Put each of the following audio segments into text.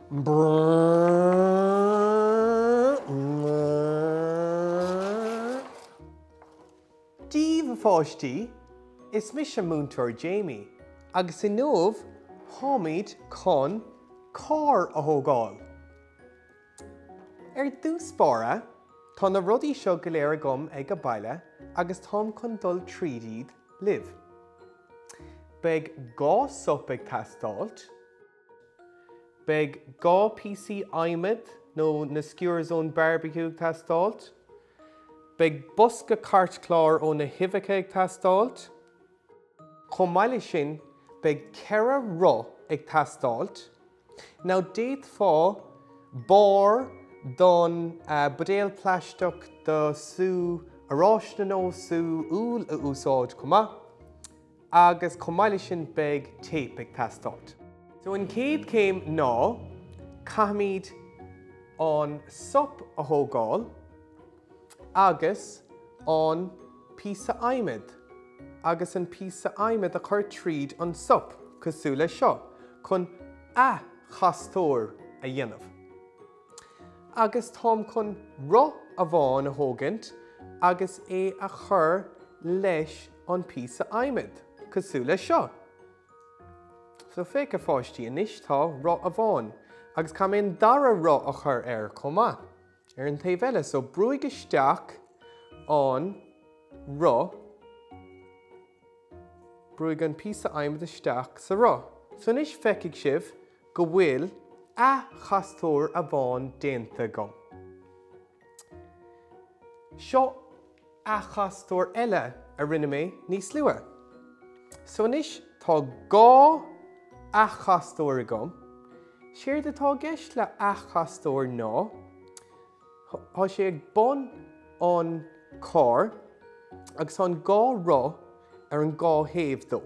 Dia dhaoibh a pháistí, is mise Múinteoir Jamie agus inniu táimid chun carr a thógáil. Ar dtús báire, tá na rudaí seo go léir agam ag baile agus táim chun dul tríd iad libh. Beidh dhá sop ag teastáilt. Beidh dhá píosa adhmaid nó na skewers ón barbecue ag teastáilt. Beidh bosca cairtchláir ó na huibheacha ag teastáilt. Chomh maith leis sin, beidh ceithre roth ag teastáilt Nó d'fhéadfá barr den buidéal plaisteach do sú oráiste nó sú úll a úsáid chomh maith agus chomh maith leis sin beidh téip ag teastáilt. So an chéad chéim ná caithfimid an sop a thógáil. agus an píosa adhmaid agus an píosa adhmaid a chur tríd an sop cosúil le seo chun acastóir a dhéanamh. Agus táim chun roth amháin a thógaint agus é a chur leis an píosa adhmaid cosúil le seo. So féach a pháistí, anois tá roth amháin agus caithfidh mé an dara roth a chur air chomh maith. Ar an taobh eile, so brúigh isteach an roth, brúigh an píosa adhmaid isteach sa roth. So anois feicfidh sibh go bhfuil acastóir amháin déanta agam. Seo acastóir eile a rinne mé níos luaithe. So anois tá dhá acastóir agam. Séard atá i gceist le acastóir ná tá sé ag bun an carr agus tá an dhá roth ar an dhá thaobh dó.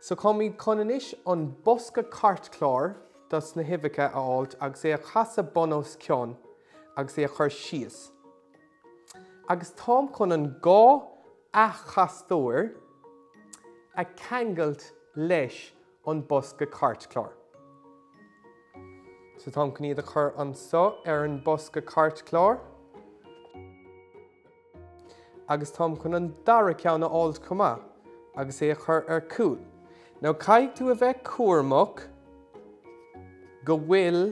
So táimid chun anois an bosca cairtchláir dos na huibheacha a fháilt agus é a chasadh bun os cionn, agus é a chur síos agus táim chun an dhá acastóir a cheangailt leis an bosca cairtchláir. So táim chun iad a chur anso ar an bosca cairtchláir. agus táim chun an dara ceann a fháilt chomh maith agus é a chur ar cúl. Now caithfidh tú a bheith cúramach go bhfuil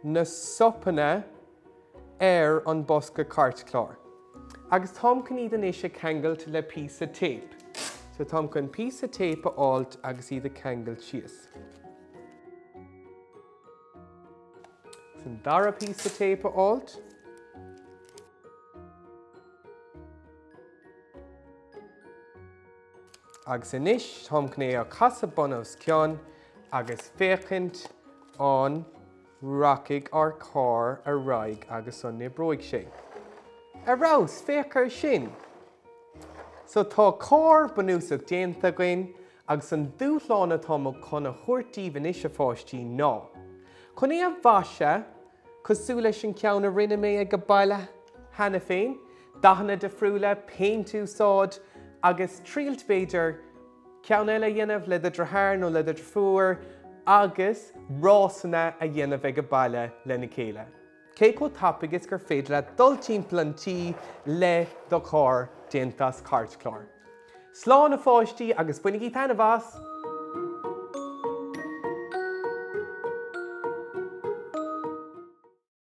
na sopanna ar an bosca cairtchlár. Agus táim chun iad anois a ceangailt le píosa téip. So táim chun píosa téip a fháilt agus iad a ceangailt síos. Agus an dara píosa téip a fháilt. Agus anois táim chun é a chasadh bun os cionn agus féachaint an rachaidh ár gcarr ar aghaidh agus an n-oibreoidh sé. Ar fheabhas, féach air sin! So tá carr bunúsach déanta againn agus an dúshlán atáim chun a thabhairt daoibh anois a pháistí ná chun é a mhaisiú cosúil leis an gceann a rinne mé ag an baile cheana féin, dathanna difriúla, péint a úsáid agus triailt b'fhéidir ceann eile a dhéanamh le do dhritheár nó le do dhrifiúr agus rásanna a dhéanamh ag an baile lena chéile. Cé chomh tapaidh is gur féidir leat dul timpeall an tí le do charr déanta as cairtchlár. Slán a pháistí agus bainigí taitneamh as!